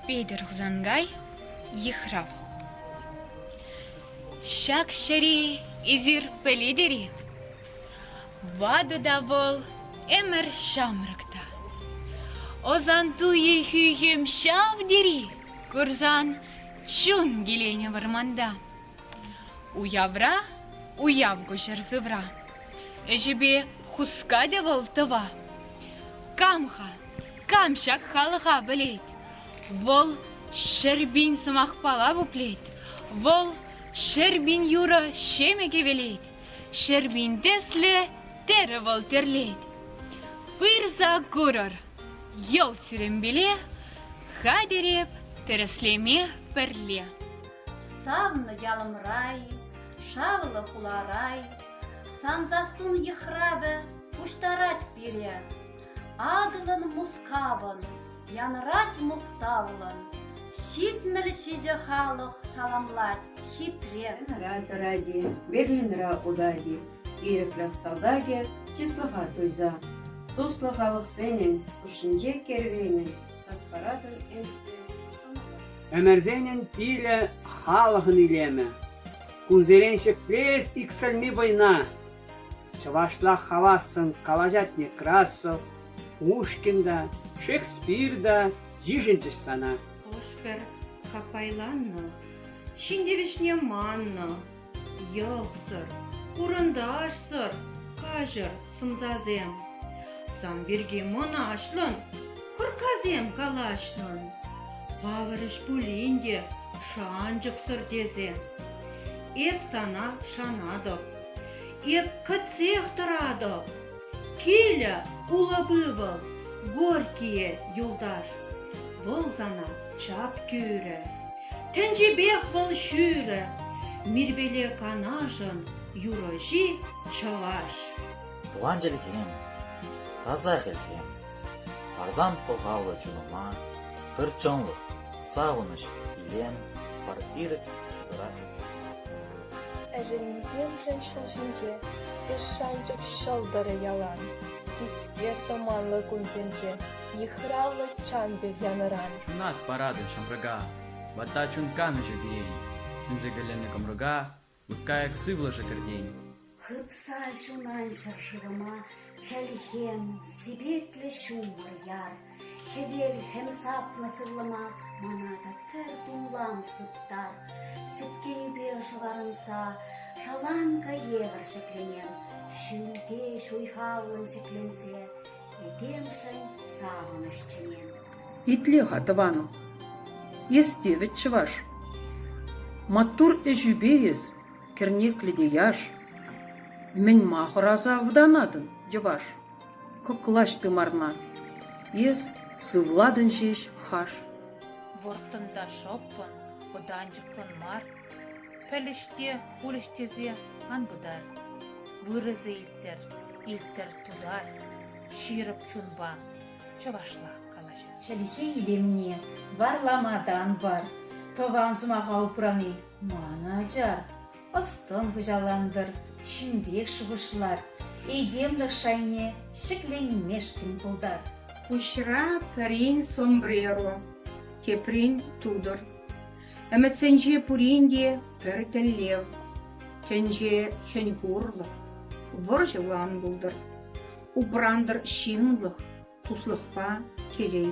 Петӗр Хусанкай йыхрав. Ҫак чӗри эсир пӗлетӗр-и? Ватӑ та вӑл ӗмӗр ҫамрӑк та. Ӑсан туйи хӳхӗм ҫав тери курсан чун киленӗ вӑрманта. Уявра уяв куҫӑр сывра. Ӗҫӗпе хускатӗ вӑл тӑва. Кам-ха, кам ҫак халӑха пӗлет? Вӑл ҫӗр пин сӑмахпала пуплет. Вӑл ҫӗр пин юрӑ ҫемӗк хӗвелет. Ҫӗрпин тесле, терӗ вӑл тӗрлет. Пырса курӑр, йӑл сирӗнпеле, хатӗреп тӗрӗслеме пӗрле. Савнӑ ялӑмрай, шавлӑ хуларай, сан сассун йыхравӗ пуҫтарать пире. Атӑлӑн Мускавӑн, Янрак мухтавлӑн, Ҫитмӗл ҫичӗ халӑх саламлать хитре. Янра тӑрать-и, Берлинра утать-и, Ирӗклӗх салтакӗ чыслӑха туйса, туслӑ халӑхсенӗн хушшинче кервенӗн, саспаратӑн ӗҫне Ӗмӗрсенӗн пилӗ халӑхӑн илемӗ. Кунсерен ҫӗклес иксӗлми вӑйна Чӑвашла хавассӑн калаҫать Некрасов, Пушкин та, Шекспир та йышӑнчӗҫ сана. Хӑш-пӗр каппайланнӑ ҫын тивӗҫне маннӑ. Йӑхсӑр, хурӑнташсӑр каҫӑр сӑмсасем. Сан пирки мӑнаҫлӑн кӑрккасем калаҫнӑн. Палӑрӗҫ пулин те шанчӑксӑр тесе. Эп сана шанатӑп. Эп кӗтсех тӑратӑп. Килӗ улӑп-ывӑл, горькие юлташ. Вӑл сана чап кӳрӗ. Тӗнчипех вӑл ҫӳрӗ. Мирпеле канашӑн юрӑҫи чӑваш. Тӑван чӗлхем, таса хӗлхем, парсан пахаллӑ чунӑма пӗр чӑнлӑх, савӑнӑҫ, илем, пар ирӗк, ҫутӑрах. Ӗшенмесемшӗн ҫул ҫинче Эс шанчӑк ҫӑлтӑрӗ ялан, Тискер тӑманлӑ кунсенче Йыхравлӑ чан пек янӑран. Ҫунат паратӑн ҫамрӑка, Ватта чун канӑҫӗ кӳрен. Сӳнсе кӗленнӗ кӑмрӑка, Лӑпкайӑк сывлӑшӗ кӗртен. Хыпса ҫунан ҫӗршывӑма Чӗлхем, сипетлӗ ҫумӑр яр. Хӗвел хӗм саплӑ сывлӑма мана та пӗр тумлам сыптар. Сӳткенӳпе шӑварӑнса шаланкӑ евӗр ҫӗкленем, ҫӳлте ҫуйхавлӑн ҫӗкленсе этемшӗн савӑнӑҫ чӗнем. Итле-ха, тӑванӑм, эс те вӗт чӑваш. Маттур ӗҫӳпе эс, кӗрнеклӗ те яш. Мӗн-ма хӑраса вутанатӑн, йӑваш? Кӑклаҫ тымарна, эс сывлатӑн ҫеҫ хаш. Вӑрттӑн та шӑппӑн, вӑтанчӑклӑн мар, пӗлӗҫ те, пулӗҫ тесе ан пытар. Вырӑсӗ илттӗр, илттӗр тутар, ҫирӗп чунпа, чӑвашла калаҫар. Чӗлхе илемне варлама та ан пар, тӑван сӑмаха упрани ман ача. ӑс-тӑн хуҫалантӑр, ҫынпех шухӑшлар, этемлӗх шайне ҫӗкленмешкӗн пултар. Пуҫра пӗрин сомбреро, теприн тутӑр. Ӗмӗтсенче пурин те пӗр тӗллев, тӗнче хӗн-хурлӑх, вӑрҫӑлан пултӑр. Упрантӑр ҫынлӑх, туслӑхпа телей.